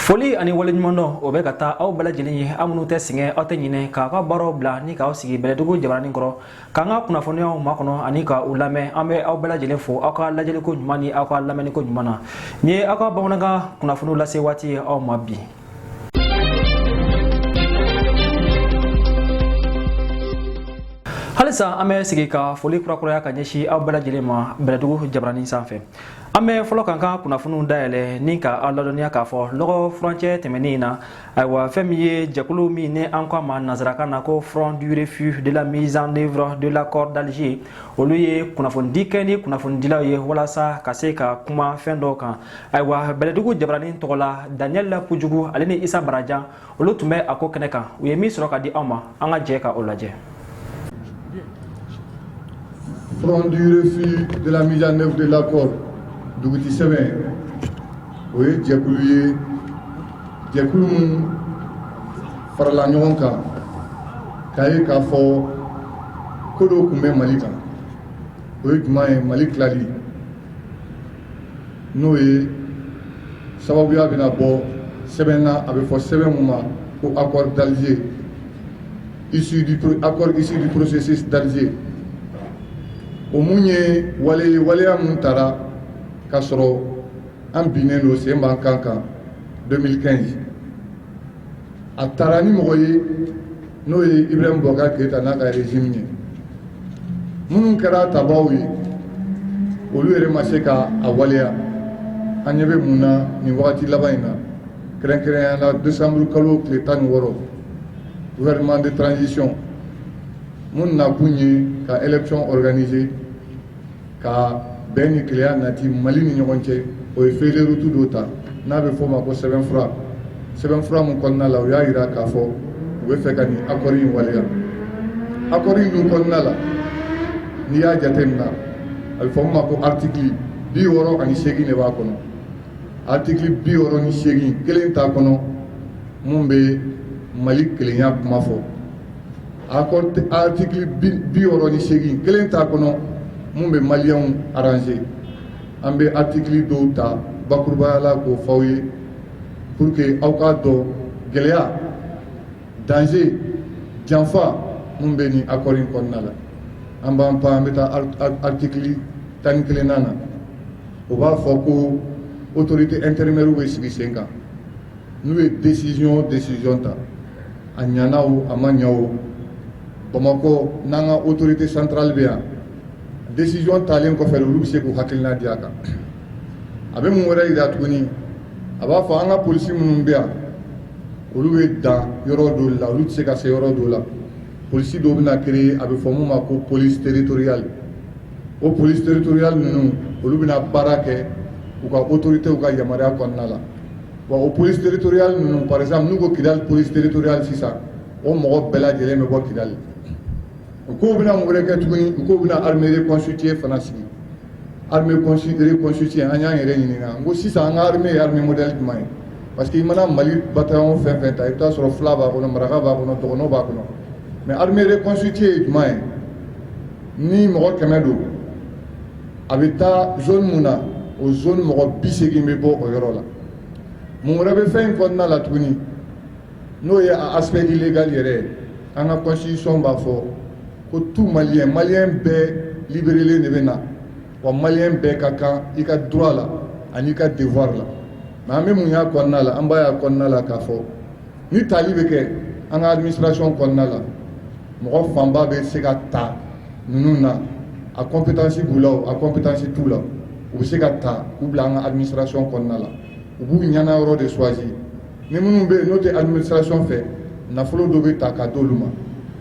foli ani waleɲumandɔn o bɛ ka taa aw bɛɛ lajɛlen ye aw minnu tɛ sɛgɛn aw tɛ ɲinɛ k'a ka baaraw bila ni k'aw sigi bɛlɛdugu jabaranin kɔrɔ k'an ka kunnafoniyaw makɔnɔ ani ka u lamɛn an bɛ aw bɛɛ lajɛlen fo aw ka lajɛliko ɲuman ni aw ka lamɛnniko ɲuman na nin ye aw ka bamanankan kunnafoniw lase waati ye aw ma bi halisa an bɛ segin ka foli kurakuraya ka ɲɛsin aw bɛɛ lajɛlen ma bɛlɛdugu jabaranin sanfɛ an bɛ fɔlɔ k'an ka kunnafoniw dayɛlɛ ni ka aw ladɔnniya k'a fɔ lɔgɔ furancɛ tɛmɛnen in na ayiwa fɛn min ye jɛkulu min ni an k'a ma nansarakan na ko front du refus de la mise en œuvre de l'accord d'alger olu ye kunnafonidi kɛ ni kunnafonidilaw ye walasa ka se ka kuma fɛn dɔw kan ayiwa bɛlɛdugu jabaranin tɔgɔ la daniel la kojugu ale ni isa barajan olu tun bɛ a ko kɛnɛ kan u ye min sɔrɔ ka di anw ma an ka jɛ ka o lajɛ front du refus de la mise en œuvre de l'accord dugutigi sɛbɛn o ye jɛkulu ye jɛkulu min farala ɲɔgɔn kan k'a ye k'a fɔ ko dɔ kun bɛ mali kan o ye jumɛn ye mali tilali n'o ye sababuya bɛna bɔ sɛbɛn na a bɛ fɔ sɛbɛn min ma ko accord d'Alger issu du accord issu du processus d'Alger o min ye wale ye waleya min tara k'a sɔrɔ an binnen don sen b'an kan kan 2015 a taara ni mɔgɔ ye n'o ye ibrahim boubacar keyita n'a ka régime ye minnu kɛra tabagaw ye olu yɛrɛ ma se ka a waleya an ɲɛ bɛ mun na nin wagati laban in na kɛrɛnkɛrɛnya la décembre kalo tile tan ni wɔɔrɔ gouvernement de transition min nakun ye ka élection organiser ka bɛn ni kelenya nati mali ni ɲɔgɔn cɛ o ye feuille de route dɔ ta n'a bɛ f'o ma ko sɛbɛnfura sɛbɛnfura min kɔnɔna la u y'a jira k'a fɔ u bɛ fɛ ka nin akɔri in waleya akɔri in dun kɔnɔna la n'i y'a jate min na a bɛ fɔ min ma ko aritiki bi wɔɔrɔ ani seegin de b'a kɔnɔ aritiki bi wɔɔrɔ ni seegin kelen t'a kɔnɔ min bɛ mali kelenya kuma fɔ Akɔri aritiki bi wɔɔrɔ ni seegin kelen t'a kɔnɔ min bɛ maliyɛnw arranger an bɛ aritiki dɔw ta bakurubaya la k'o fɔ aw ye pour que aw k'a dɔn gɛlɛya danger janfa min bɛ nin akɔri kɔnɔna la an b'an pan an bɛ taa aritiki tan ni kelennan na o b'a fɔ ko autorité intérimairew bɛ sigi sen kan N'u ye desizɔn o desizɔn ta a ɲana o a ma ɲa o bamakɔ n'an ka otorite santurali bɛ yan desizɔn talen kɔfɛ olu bɛ se k'u hakilina di a kan a bɛ mun wɛrɛ jira tuguni a b'a fɔ an ka polisi minnu bɛ yan olu bɛ dan yɔrɔ dɔ la olu tɛ se ka se yɔrɔ dɔ la polisi dɔ bɛna kere a bɛ fɔ min ma ko polisi teritoriya o polisi teritoriya ninnu olu bɛna baara kɛ u ka otoritew ka yamaruya kɔnɔna la wa o polisi teritoriya ninnu par exemple n'u ko kidali polisi teritoriya sisan o mɔgɔ bɛɛ lajɛlen bɛ bɔ kidali u k'u bɛna mun wɛrɛ kɛ tuguni u k'u bɛna armée reconstituée fana sigi armée reconstituée an y'an yɛrɛ ɲininka ko sisan an ka armée ye armée modèle jumɛn ye parce que i mana mali bataillon fɛn o fɛn ta i b'a sɔrɔ fila b'a kɔnɔ maraka b'a kɔnɔ dogɔnɔ b'a kɔnɔ mais armée reconstituée ye jumɛn ye ni mɔgɔ kɛmɛ don a bɛ taa zone min na o zone mɔgɔ bi segin bɛ bɔ o yɔrɔ la mun wɛrɛ bɛ fɛn in kɔnɔna la tuguni n'o ye aspect illégal yɛrɛ ye an ka constitution b'a fɔ ko tout malien malien bɛɛ liberelen de bɛ na wa malien bɛɛ ka kan i ka droit la ani i ka devoir la nka an bɛ mun y'a kɔnɔna la an b'a y'a kɔnɔna la k'a fɔ ni tali bɛ kɛ an ka administration kɔnɔna la mɔgɔ fanba bɛ se ka ta ninnu na a compétence b'u la a compétence t'u la u bɛ se ka ta k'u bila an ka administration kɔnɔna la u b'u ɲɛna yɔrɔ de choisir ni minnu bɛ yen n'o tɛ administration fɛ nafolo dɔ bɛ ta ka d'olu ma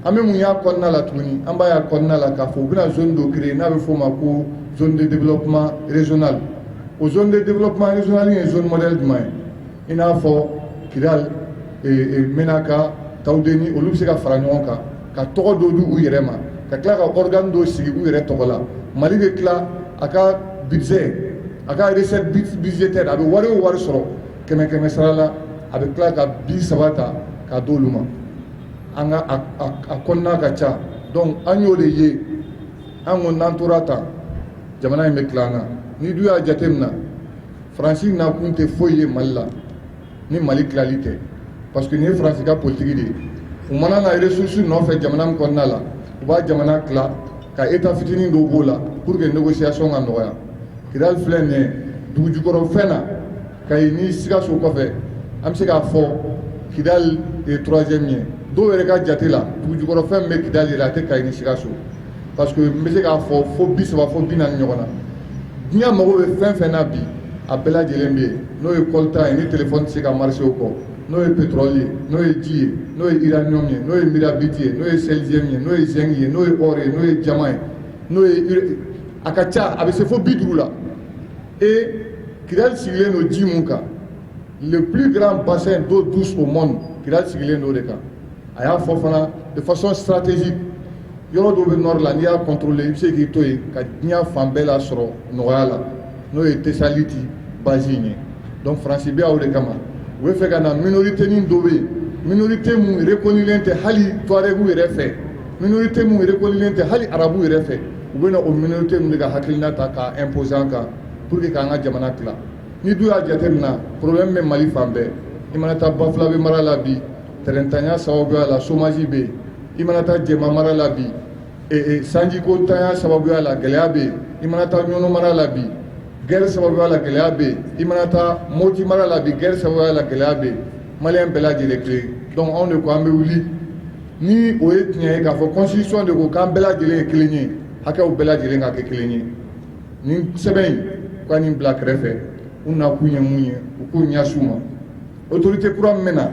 an bɛ mun y'a kɔnɔna la tuguni an b'a y'a kɔnɔna la k'a fɔ u bɛna zone dɔ créer n'a bɛ f'o ma ko zone de développement régional o zone de développement régional ye zone modèle jumɛn ye i n'a fɔ kidali menaka tawudeni olu bɛ se ka fara ɲɔgɔn kan ka tɔgɔ dɔ di u yɛrɛ ma ka tila ka organe dɔ sigi u yɛrɛ tɔgɔ la mali bɛ tila a ka budget a ka recette budgétaire a bɛ wari o wari sɔrɔ kɛmɛ kɛmɛ sara la a bɛ tila ka bi saba ta ka d'olu ma an ka a kɔnɔna ka ca donc an y'o de ye an ko n'an tora tan jamana in bɛ tila an na n'i dun y'a jateminɛ faransi nakun tɛ foyi ye mali la ni mali tilali tɛ parce que nin ye faransi ka politiki de ye u mana na ressources nɔfɛ jamana min kɔnɔna la u b'a jamana tila ka état fitinin dɔw b'o la pour que négociation ka nɔgɔya kidali filɛ nin ye dugujukɔrɔfɛn na kayi ni sikaso kɔfɛ an bɛ se k'a fɔ kidali ye troisième ye dɔw yɛrɛ ka jate la dugujukɔrɔfɛn min bɛ kidali la a tɛ kayi ni sikaso parce que n bɛ se k'a fɔ fo bi saba fo bi naani ɲɔgɔn na diɲɛ mago bɛ fɛn fɛn na bi a bɛɛ lajɛlen bɛ yen n'o ye coltan ye ni telefɔni tɛ se ka marcher o kɔ n'o ye pétrole ye n'o ye ji ye n'o ye uranium ye n'o ye mirabiti ye n'o ye silicium ye n'o ye zinc ye n'o ye or ye n'o ye diamant ye n'o ye a ka ca a bɛ se fo bi duuru la et kidali sigilen don ji min kan le plus grand bassin d'eau douce au monde kidali sigilen don o de kan a y'a fɔ fana de façon stratégique yɔrɔ dɔ bɛ nord la n'i y'a contrôler i bɛ se k'i to yen ka diɲɛ fan bɛɛ lasɔrɔ nɔgɔya la n'o ye tesaliti base in ye donc faransi bɛ aw de kama u bɛ fɛ ka na minorité nin dɔ bɛ yen minorité minnu yɛrɛ kanulen tɛ hali tuaregu yɛrɛ fɛ minorité minnu yɛrɛ kanulen tɛ hali arabu yɛrɛ fɛ u bɛna o minorité minnu de ka hakilina ta k'a imposer an kan pour que k'an ka jamana tila n'i dun y'a jateminɛ problème bɛ mali fan bɛɛ i mana taa bafulabe mara la bi Tɛrɛnntanya sababuya la chômage bɛ yen i mana taa jɛma mara la bi sanjiko ntanya sababuya la gɛlɛya bɛ yen i mana taa ɲɔnɔn mara la bi guerre sababuya la gɛlɛya bɛ yen i mana taa moti mara la bi guerre sababuya la gɛlɛya bɛ mali bɛɛ lajɛlen tile dɔn anw de ko an bɛ wuli ni o ye tiɲɛ ye k'a fɔ constitution de ko k'an bɛɛ lajɛlen ye kelen ye hakɛw bɛɛ lajɛlen ka kɛ kelen ye ni sɛbɛn in k' nin bila kɛrɛfɛ u na kun ye mun ye u k'u ɲɛsin u ma otote kura min na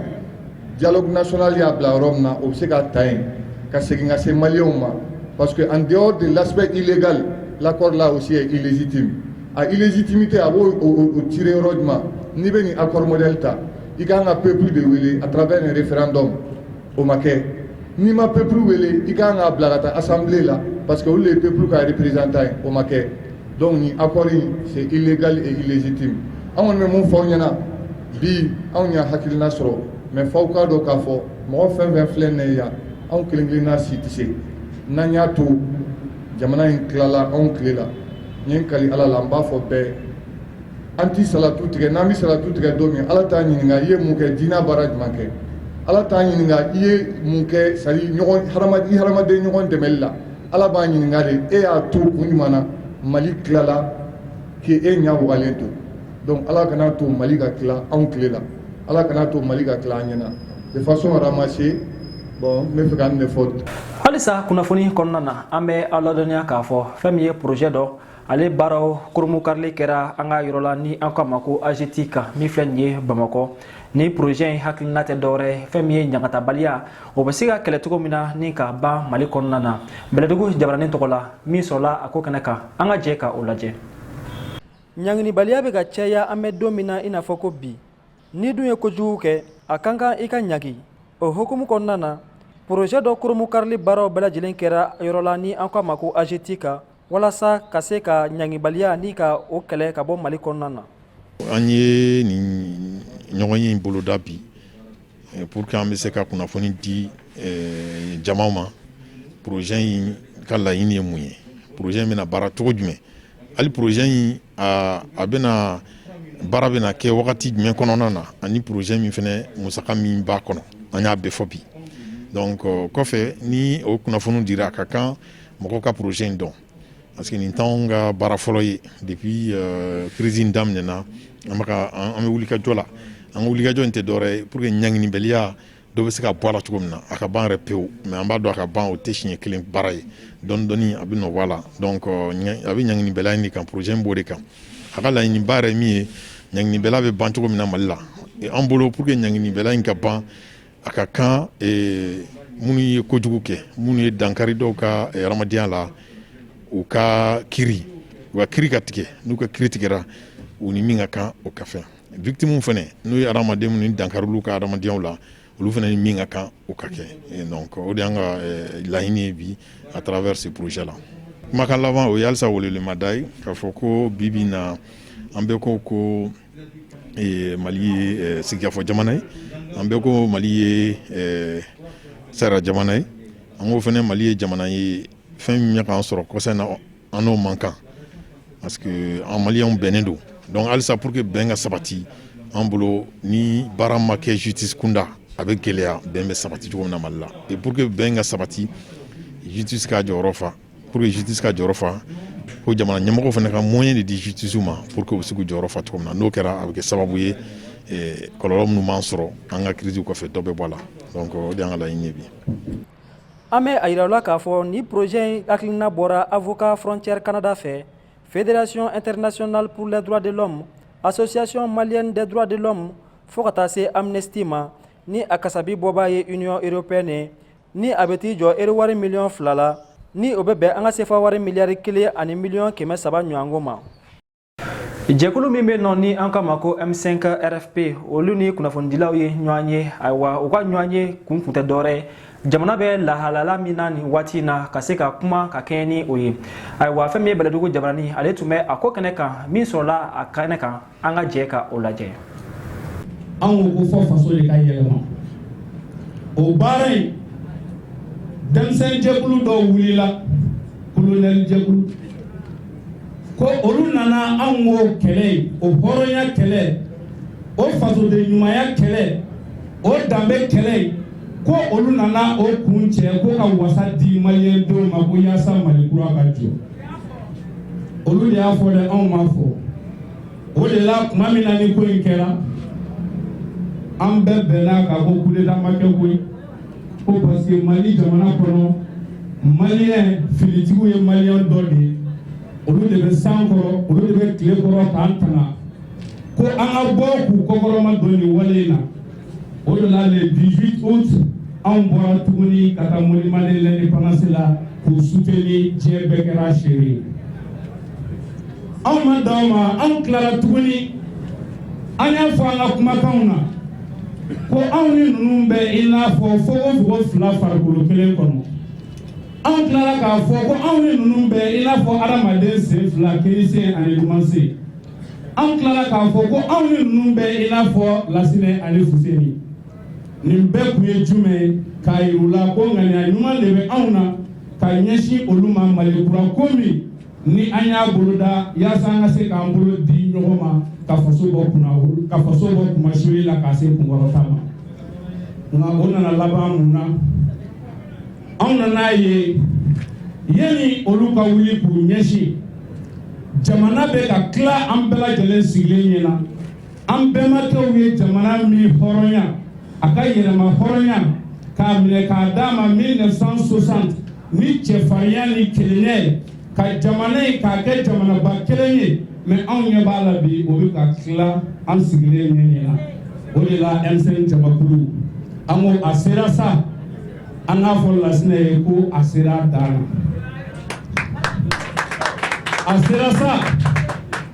jaloksonaale y'a bila yɔrɔ min na o bɛ se ka ta yen ka segin ka se maliw ma parce que an de lasesɛbɛ ilegali lakɔɔri la o si ye ilizti a iliztimi tɛ a b'o ci yɔrɔ ɲuman n'i bɛ nin a kɔrɔmodli ta i ka kan ka pep de wele a taara bɛ nin fɛn dɔn o ma kɛ n'i ma peuple wele i ka kan k'a bila ka taa assemblée la parce que olu ye peuple ka représentants ye o ma kɛ donc nin accord c'est illégal et illégitime anw bɛ mun fɔ aw ɲɛna bi anw ye hakilina sɔrɔ n b'a fɛ aw k'a dɔn k'a fɔ mɔgɔ fɛn fɛn filɛ nin ye yan anw kelenkelenna si tɛ se n'an y'a to jamana in tilala anw tile la n ye kali ala la n b'a fɔ bɛɛ an tɛ salatu tigɛ n'an bɛ salatu tigɛ don min ala t'a ɲininka i ye mun kɛ diinɛ baara jumɛn kɛ ala t'a ɲininka i ye mun kɛ sari hadamaden ɲɔgɔn dɛmɛ la ala b'a ɲininka de e y'a to kun jumɛn na mali tilala k'e ɲɛ wagalen to donc ala kana to mali ka tila anw tile la ala kana to mali ka tila an ɲɛna de façon ramassée bon n bɛ fɛ ka nin de fɔ halisa kunnafoni kɔnɔna na an bɛ aw ladɔnniya k'a fɔ fɛn min ye projet dɔ ale baaraw kurunbonkarili kɛra an ka yɔrɔ la ni an k'a ma ko agetic min filɛ nin ye bamakɔ ni porozɛ in hakilina tɛ dɔwɛrɛ fɛn min ye ɲagatabaliya o bɛ se ka kɛlɛ cogo min na ni ka ban mali kɔnɔna na bɛlɛdugu jabaranin tɔgɔ la min sɔrɔla a ko kɛnɛ kan an ka jɛ ka o lajɛ ɲanginibaliya bɛ ka caya an bɛ don min na i n'a fɔ ko bi n'i dun ye kojugu kɛ a ka kan i ka ɲangi o hukumu kɔnɔna na porozɛ dɔ kurunbonkarili baaraw bɛɛ lajɛlen kɛra yɔrɔ la ni an k'a ma ko agetic walasa ka se ka ɲangibaliya ni ka o kɛlɛ ka bɔ mali kɔnɔna na an ye nin ɲɔgɔnye in boloda bi eh, pour que an bɛ se ka kunnafoni di eh, jama ma projet in ka laɲini ye mun ye projet in bɛna baara cogo jumɛn hali projet in a bɛna baara bɛna kɛ wagati jumɛn kɔnɔna na ani projet min fana musaka min b'a kɔnɔ an y'a bɛɛ fɔ bi donc kɔfɛ ni o kunnafoni dira a ka kan mɔgɔw ka projet in dɔn parce que nin t'anw ka baara fɔlɔ ye depuis euh, crise in daminɛna an bɛ ka an bɛ wulikajɔ la an ka wulikajɔ in tɛ dɔwɛrɛ ye pour que ɲanginibaliya dɔ bɛ se ka bɔ a la cogo min na a ka ban yɛrɛ pewu mais an b'a dɔn a ka ban o tɛ siɲɛ kelen baara ye dɔɔni dɔɔni a bɛ dɔ bɔ a la donc euh, a bɛ ɲanginibaliya in de kan projet in b'o de kan a ka laɲiniba yɛrɛ min ye ɲanginibaliya bɛ ban cogo min na mali la an bolo pour que ɲanginibaliya in ka ban a ka kan minnu ye kojugu kɛ minnu ye dankari dɔw ka hadamadenya la u ka ki u ka kiiri ka tigɛ n'u ka kiiri tigɛ u ni min ka kan o ka fɛntiw fana n'u ye hadamaden dankari ka hadamadenya la olu fana ye min ka kan o ka kɛ o de y'an ka laɲini ye bi à travers ce projet là kumakan laban o ye halisa weleweleda ye k'a fɔ ko bi na an bɛɛ ko ko Mali ye sigikafɔ jamana ye an bɛɛ ko mali ye sariya jamana ye an ko fana mali ye jamana ye fɛn min bɛ ka an sɔrɔ kɔsa na an n'o man kan parce que an malienw bɛnnen don donc halisa pour que bɛn ka sabati an bolo ni baara ma kɛ justice kunda a bɛ gɛlɛya bɛn bɛ sabati cogo min na mali la eh pour que bɛn ka sabati justice k'a jɔyɔrɔ fa Pour que justice k'a jɔyɔrɔ fa ko jamana ɲɛmɔgɔ fana ka moyen de di justice ma pour que u bɛ se k'u jɔyɔrɔ fa cogo min na n'o kɛra a bɛ kɛ sababu ye eh, kɔlɔlɔ minnu b'an sɔrɔ an ka crise kɔfɛ dɔ bɛ bɔ a la donc o de y'an ka laɲini ye bi an bɛ a yira la k'a fɔ ni projet in hakilina bɔra avocat frontière canada fɛ fédération internationale pour les droits de l'homme association malienne des droits de l'homme fo ka taa se amnesty ma ni a kasabi bɔbaa ye union européenne ye ni a bɛ t'i jɔ ero wari miliyɔn fila la ni o bɛ bɛn an ka sefa wari miliyari kelen ani miliyɔn kɛmɛ saba ɲɔgɔn ma jɛkulu min bɛ nɔ ni an k'a ma ko m5 rfp olu ni kunnafonidilaw ye ɲɔgɔn ye ayiwa u ka ɲɔgɔn ye kun kun tɛ dɔwɛrɛ ye jamana bɛ lahalaya min na nin waati in na ka se ka kuma ka kɛɲɛ ni o ye ayiwa fɛn min ye bɛlɛdugu jabarani ale tun bɛ a ko kɛnɛ kan min sɔrɔla a kɛnɛ kan an ka jɛ ka o lajɛ an ko ko fɔ faso de ka yɛlɛma o baara in denmisɛn jɛkulu dɔw wulila kolonɛli jɛkulu ko olu nana anw k'o kɛlɛ in o hɔrɔnya kɛlɛ o fasoden ɲumanya kɛlɛ o danbe kɛlɛ in ko olu nana o kuncɛ ko ka wasa di maliyɛndenw ma ko yaasa mali kura ka jɔ olu de y'a fɔ dɛ anw m'a fɔ o de la tuma min na ni ko in kɛra an bɛɛ bɛnna k'a fɔ kudeta ma kɛ koyi ko parce que mali jamana kɔnɔ maliyɛn finitigiw ye maliyɛn dɔ de ye olu de bɛ san kɔrɔ olu de bɛ tile kɔrɔ k'an tanga ko an ka bɔ k'u kɔkɔrɔmadon nin wale in na O de la le 18 aout anw bɔra tuguni ka taa monument de l'independance la k'u soutenir diɲɛ bɛɛ kɛra seere ye. Anw ma dan o ma, anw tilala tuguni, an y'a fɔ an ka kumakanw na ko anw ni ninnu bɛ i n'a fɔ fogofogo fila farikolo kelen kɔnɔ. Anw tilala k'a fɔ ko anw ni ninnu bɛ i n'a fɔ hadamaden sen fila, kini sen ani numan sen. anw tilara k'a fɔ ko anw ni ninnu bɛ i n'a fɔ lasinɛ ani fuseni nin bɛɛ kun ye jumɛn ye k'a yir'u la ko ŋaniya ɲuman de bɛ anw na ka ɲɛsin olu ma mali kura ko min ni an y'a boloda yaasa an ka se k'an bolo di ɲɔgɔn ma ka faso bɔ kunna ka faso bɔ kunmasuli la k'a se kunkɔrɔta ma nka o nana laban mun na anw nana a ye yanni olu ka wuli k'u ɲɛsin jamana bɛ ka tila an bɛɛ lajɛlen sigilen ɲɛ na an bɛnbakɛw ye jamana min hɔrɔnya a ka yɛrɛmahɔrɔnya k'a minɛ k'a d'a ma 1960 ni cɛfarinya ni kelenya ye ka jamana in k'a kɛ jamanaba kelen ye mɛ anw ɲɛ b'a la bi o bɛ ka tila an sigilen ɲɛ ɲɛ na o de la m5 jamakulu an ko a sera sa an k'a fɔ lasinɛ ye ko a sera a dan na a sera sa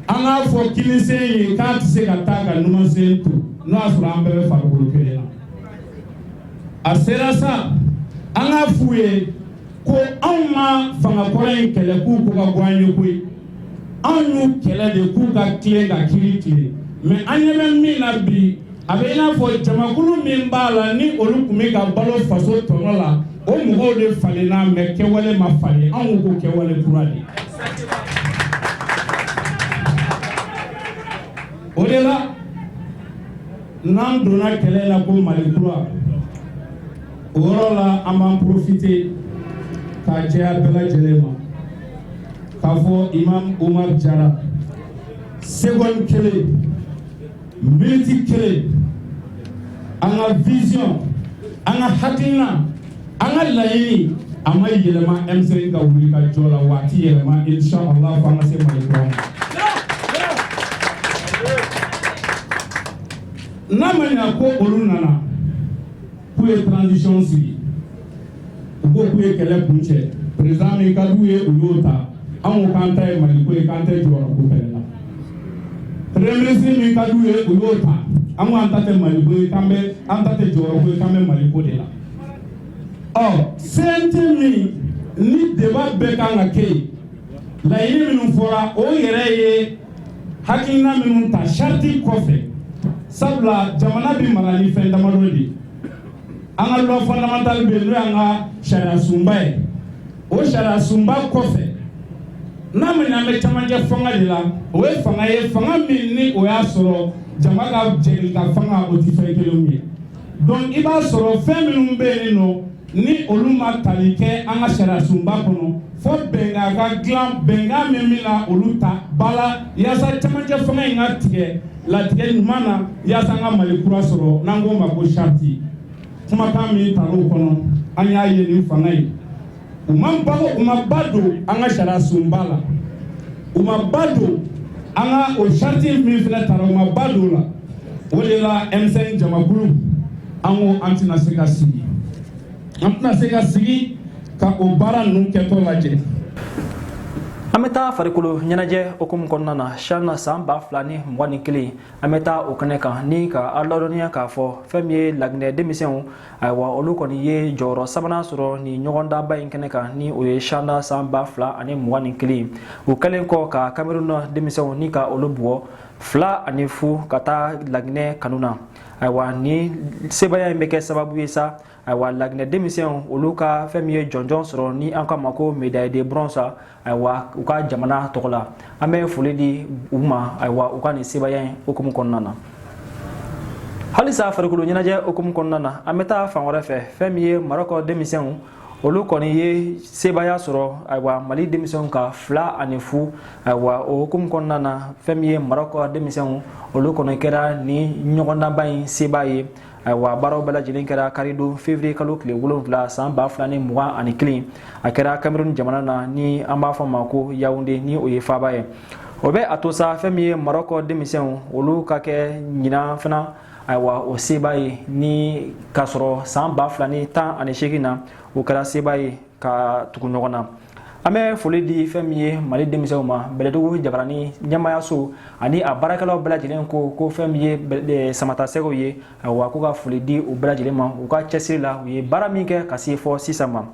an k'a fɔ kinisen ye k'a tɛ se ka taa ka numansen to n'o y'a sɔrɔ an bɛɛ bɛ farikolo kelen na a sera sa an k'a f'u ye ko anw ma fanga kɔrɔ in kɛlɛ k'u ko ka go an ye koyi an y'u kɛlɛ de k'u ka tilen ka kiri tilen mɛ an ɲɛ bɛ min na bi a bɛ i n'a fɔ jamakulu min b'a la ni olu tun bɛ ka balo faso tɔnɔ la o mɔgɔw de falenna mɛ kɛwale ma falen anw ko kɛwale kura de o de la n'an donna kɛlɛ la ko mali kura o yɔrɔ la an b'an porofite k'a jɛya bɛɛ lajɛlen ma k'a fɔ imam umar jara seconde kelen miniti kelen an ka vision an ka hakilina an ka laɲini a ma yɛlɛma M5 ka wuli ka jɔ la wa a tɛ yɛlɛma inshallah fo an ka se mali kura ma ko olu nana k'u ye transition sigi u ko k'u ye kɛlɛ kuncɛ président min ka d'u ye u y'o ta an ko k'an ta ye mali ko ye k'an tɛ jɔyɔrɔ ko fɛnɛ la premier ministre min ka d'u ye u y'o ta an ko an ta tɛ mali ko ye k'an bɛ an ta tɛ jɔyɔrɔ ko ye k'an bɛ mali ko de la ɔ CNT min ni débat bɛɛ kan ka kɛ yen laɲini minnu fɔra o yɛrɛ ye Hakilina minnu ta sariti kɔfɛ sabula jamana bɛ mara ni fɛn damadɔ de an ka loi fondamentale bɛ n'o y'an ka sariya sunba ye o sariya sunba kɔfɛ n'a min an bɛ camancɛ fanga de la o ye fanga ye fanga min ni o y'a sɔrɔ jama ka jɛ ka fanga o tɛ fɛn kelen ye donc i b'a sɔrɔ fɛn minnu bɛ yen nɔ ni olu ma tali kɛ an ka sariyasunba kɔnɔ fo bɛnkan ka dilan bɛnkan min bɛna olu ta ba la yaasa camancɛ fanga in ka tigɛ latigɛ ɲuman na yaasa an ka mali kura sɔrɔ n'an k'o ma ko sariti kumakan min tar'o kɔnɔ an y'a ye nin fanga ye u ma ba u ma ba don an ka sariyasunba la u ma ba don an ka o sariti min fana tara u ma ba don la o de la M5 jamakulu an ko an tɛna se ka sigi an tɛna se ka sigi ka o baara ninnu kɛtɔ lajɛ an bɛ taa farikolo ɲɛnajɛ hukumu kɔnɔna na shan san ba fila ni mugan ni kelen an bɛ taa o kɛnɛ kan ni ka aw ladɔnniya k'a fɔ fɛn min ye laginɛ denmisɛnw ayiwa olu kɔni ye jɔyɔrɔ sabanan sɔrɔ ni ɲɔgɔndanba in kɛnɛ kan ni o ye shan de san ba fila ani mugan ni kelen u kɛlen kɔ ka kameruna denmisɛnw ni ka olu bugɔ fila ani fu ka taa laginɛ kanu na ayiwa ni sebaaya in bɛ kɛ sababu ye sa ayiwa laginɛ denmisɛnw olu ka fɛn min ye jɔnjɔn sɔrɔ ni an k'a ma ko médaille de bronze ayiwa u ka jamana tɔgɔ la an bɛ foli di u ma ayiwa u ka nin sebaaya in hukumu kɔnɔna na halisa farikolo ɲɛnajɛ hukumu kɔnɔna na an bɛ taa fan wɛrɛ fɛ fɛn min ye marɔkɔ denmisɛnw olu kɔni ye sebaaya sɔrɔ ayiwa mali denmisɛnw kan fila ani fu ayiwa o hukumu kɔnɔna na fɛn min ye marɔkɔ denmisɛnw olu kɔni kɛra nin ɲɔgɔndanba in sebaa ye ayiwa baaraw bɛɛ lajɛlen kɛra karidon fevrier kalo tile wolonfila san ba fila ni mugan ani kelen a kɛra cameroun jamana na ni an b'a fɔ ma ko yaounde ni o ye faaba ye o bɛ a to sa fɛn min ye marɔkɔ denmisɛnw olu ka kɛ ɲinan fana ayiwa o sebaa ye ni k'a sɔrɔ san ba fila ni tan ani seegin na o kɛra sebaa ye ka tugu ɲɔgɔn na an bɛ foli di fɛn min ye mali denmisɛnw ma bɛlɛdugu jabarani ɲɛmayaso ani a baarakɛlaw bɛɛ lajɛlen ko ko fɛn min ye e, samatasɛgɛw ye wa ko ka foli di u bɛɛ lajɛlen ma u ka cɛsiri la u ye baara min kɛ ka se fo sisan ma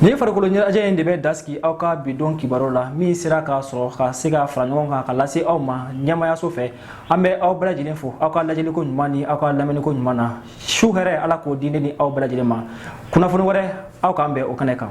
nin farikolo ɲɛnajɛ in de bɛ dan sigi aw ka bidon kibaru la min sera ka sɔrɔ ka se ka fara ɲɔgɔn kan k'a lase aw ma ɲɛmayaso fɛ an bɛ aw bɛɛ lajɛlen fo aw ka lajɛliko ɲuman ni aw ka lamɛniko ɲuman na su hɛrɛ ala k'o di ne ni aw bɛɛ lajɛlen ma kunnafoni wɛrɛ aw k'an bɛn o kɛnɛ kan